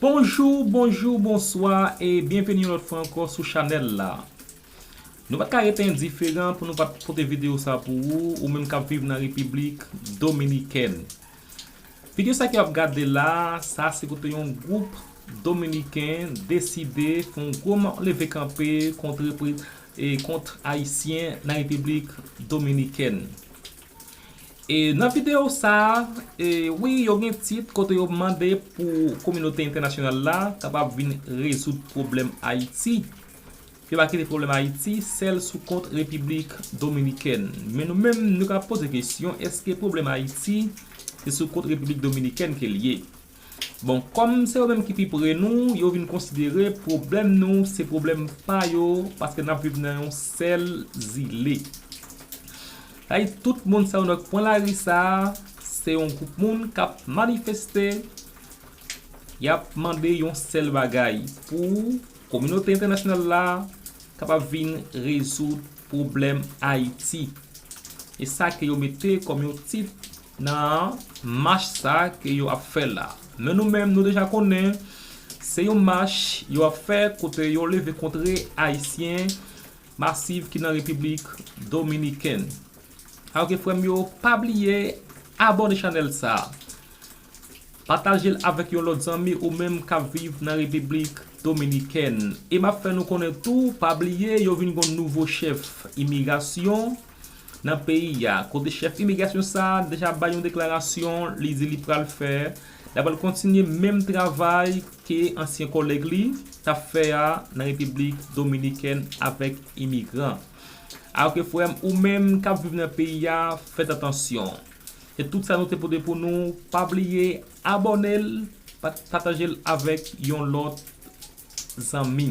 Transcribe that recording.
Bonjou bonjou bonswa e byenveni yon lòt fwa ankò sou chanèl la Nou pa t ka rete endiferan pou nou pa t pote videyo sa pou ou ou menm k ap viv nan repiblik dominikèn Videyo sa ke w ap gade la sa se kote yon gwoup dominiken deside fè yon gwo leve kanpe kont ayisyen nan repiblik dominikèn E nan video sa e wi yo gen tit kote yo mande pou kominote entènasyonal la kapab vin rezoud pwoblèm Ayiti. Yo pa kite pwoblèm Ayiti sèl sou kont Repiblik Dominikèn. Men nou menm nou ka poze kesyon èske pwoblèm Ayiti se sou kont Repiblik Dominikèn ke l ye? Bon, kòm se yo menm ki pi pre nou, yo vin konsidere pwoblèm nou se pwoblèm pa yo paske n ap viv nan yon sèl zile. Ay, tout moun sa yo nan kwen lari sa a, se yon gwoup moun k ap manifeste, y ap mande yon sèl bagay, pou kominote entènasyonal la kapab vin rezoud pwoblèm Ayiti. E sa ke yo mete kòm yon tit nan mach sa ke yo ap fè la men nou menm nou deja konnen se yon mach yo ap fè kote yo leve kontre ayisyen masiv ki nan repiblik dominikèn a ok frèm yo pa bliye abòne chanèl sa patajel avèk yon lòt zanmi ou menm kap viv nan repiblik dominikèn e map fè nou konnen tou pa bliye yo vin gon nouvo chèf imigrasyon nan peyi a kote chèf imigrasyon sa deja bay yon deklarasyon li di li pral fè la pral kontinye menm travay ke ansyen kòlèg li tap fè a nan repiblik dominikèn avèk imigran a ok frèm ou menm kap viv nan peyi a fèt atansyon se tout sa nou te pote pou nou pa bliye abònel patajel avèk yon lòt zanmi.